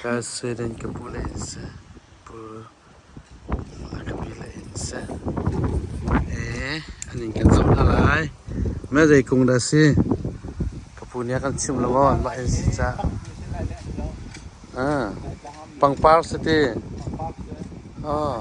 Ka sueden ka pu le an si. Pu a ka pi le an si. Ee, an in kan zoh hna lai. Mah zei kung dah a si? Ka pu nih a kan chimh lo maw? Mah an si ca'h. Pangpar si ti. Aw.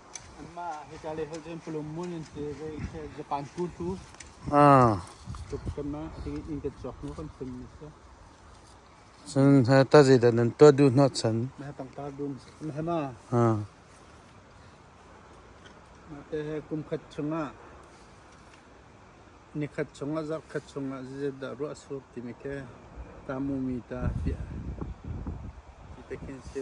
Cun tazidat nan tuah duh hnawh chan? Kumkhat chungah nikhat chungah zarhkhat chungah zeizat dah ruah suk timi khi ta mu mi ta fiah ti te khin si.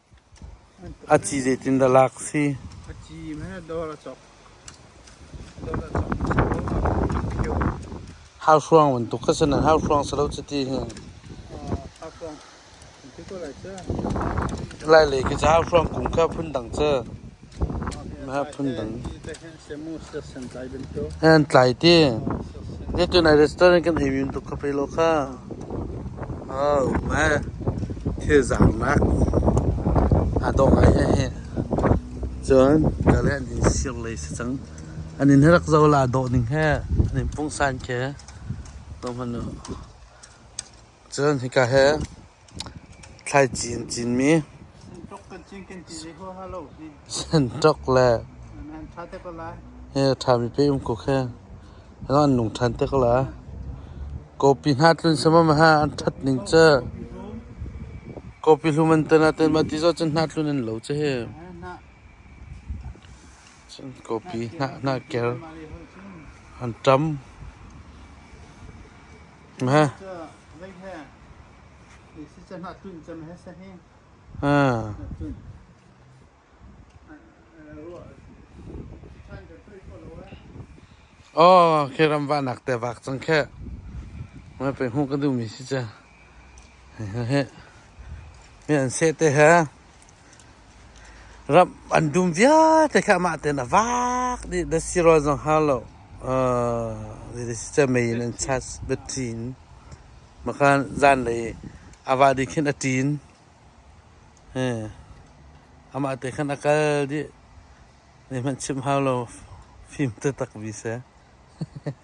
A ci zeitindah lak a si? Hauhruang bantuk kha cun an hauhruang si lo cuti hi. Lailei khi cu hauhruang kung kha phundang cu. Hnantlai ti zeicun ai restaurant kan ei wiun tuk kha pei law kha. Au hmai thilzaarnak aa dawh ngai heh hih. Cun ka le an in sir lei si cang. An in rak zo la dawh ning heh an in pungsan ke. Tung hmanh u. Cun hika he Thlaici an cinmi, santawk le he a ṭhami pei-um-kuk he an nung ṭhan te ko lai. Kawpi hna tlun sammam he an ṭhat ning cu kawpi hlum an tan ahcun mah ti zong cun hna tlun an lo cu hi. Cun kawpi hna ker an ṭam. Aw, khi ram va nak te vak cang khe. Mai pe hmu ka duh mi si cha. He he. Mi an se te he. Ramh an dum vialte kha amah tein a vaak dih na si rua zong hnga lo mei in an chas biaṭin. Maka zanlei a vah dih khin a ṭin. Amah te khan a kal dih. Zeihmanh chim hau lo, fim taktak vi seh.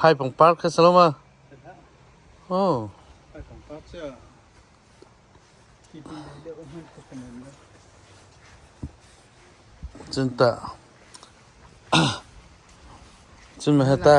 Phai pangpar kha sa law ma. Cun maheh ta.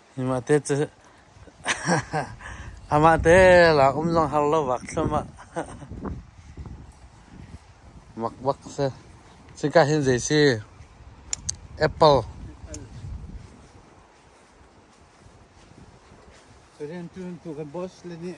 Amahte lak um zong har lo vak thluam ah mak bak a si. Cuka hin zei si? Apple. Turin tu kan boss le nih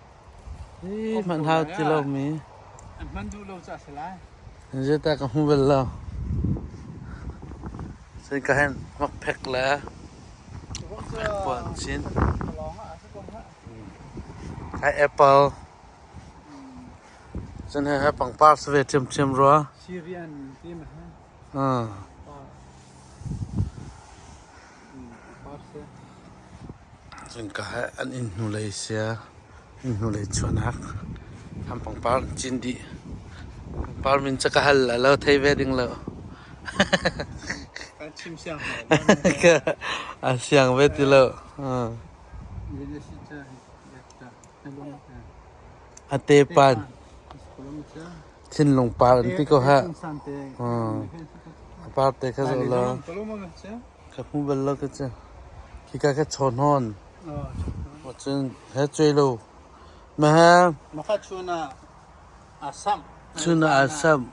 Hmanhau ti lomi zedah ka hmu bal lo. Cun ka hen makphek le pekpuan chin. Hai apple. Cun he he pangpar sa ve ṭhiamṭhiam rua. Ah. Innka he an inn hnulei sia, inn hnulei chuahnak. An pangpar an cin dih. Pangpar min cu ka hal la, lo thei ve ding lo. A siang ve ti lo. A tepan. Thinlung par in ti ko hlah. A par te kha zoh law ka hmu bal lo ka cu. Khika ka chaw hnawn. Maw cun he cuai lo. Mahang chun ah aa samh.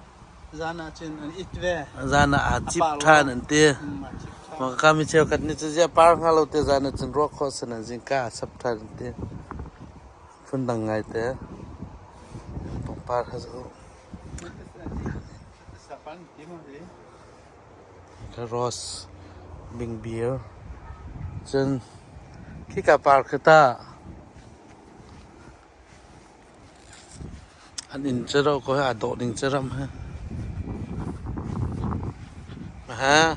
Zan ah aa cip ṭhan an ti. Maka mi cheukhat nih cu ziah par hnga lo ti zan ah cun ruah khawh sin an zingka aa sap ṭhan an ti. Phundang ngaite pangpar ha za uh. Rose, bingbir. Cun khika par khi tah an inn cu ro ko aa dawh ding cu ram ha. Ha.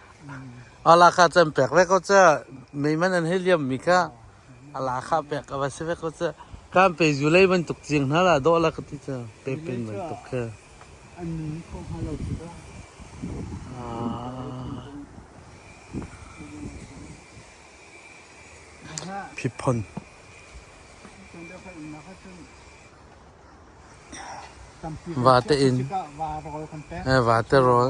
A la kha can pek ve ko cu. Meiman an hei liammi kha a la kha pek a va si ve ko cu. Kan pe zulei bantuk cing hna lah dawh la ka ti cu. Pepen bantuk khi. An nung kho hnga lo tikah. Phipphon. Vate in. Vate rawl.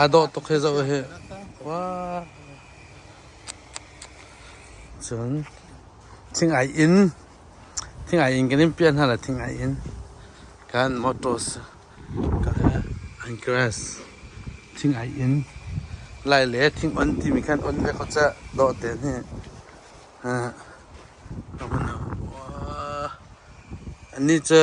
Aa dawh tuk hi zoh hi. Wah. Cun thingai in thingai in kan in piah hna la thingai in kan motors ka he an grass thingai in lai le thing on timi khan on ve ko cah dawh te hi. Ha. Amun ha. Wah. Annih cu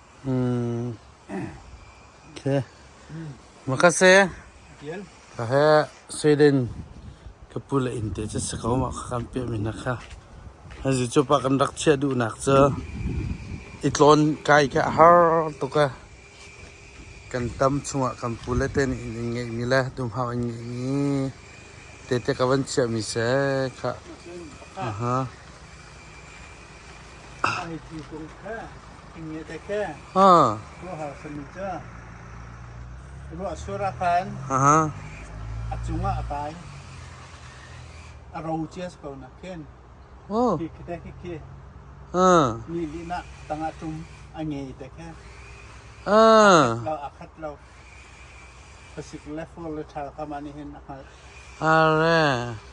Sweden ka pu le inn te cu si ko mah kha kan piahmi hna kha. Hi cu pa kan rak chiah duhnak cu i tlawn kai kha a har tuk a kan tam chungah kan pu le te nih in ngeihmi le dumhau in ngeihmi tete ka van chiahmi seh khah. Aha. Ruahsur a khan. A cungah a kai. A ro cias ko nak khin. Khikhi te khikhi. Ni lina tangah tum a ngei te khe. A khat lo. Pasik le for le thal kama ni hin a khat. Are.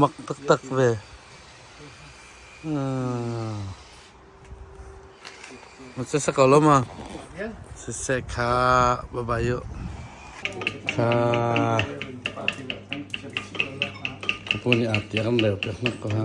Mak taktak ve. Siseh ko lo ma. Siseh kha babai u. Kha ka pu nih aa tiam leo pe hnak ko ha.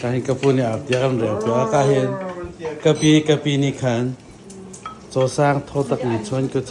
Ka hi ka pu nih a tia kan rel piak ah hin ka pi ka pi nih khan cawsang tho tak in chuan ka cu.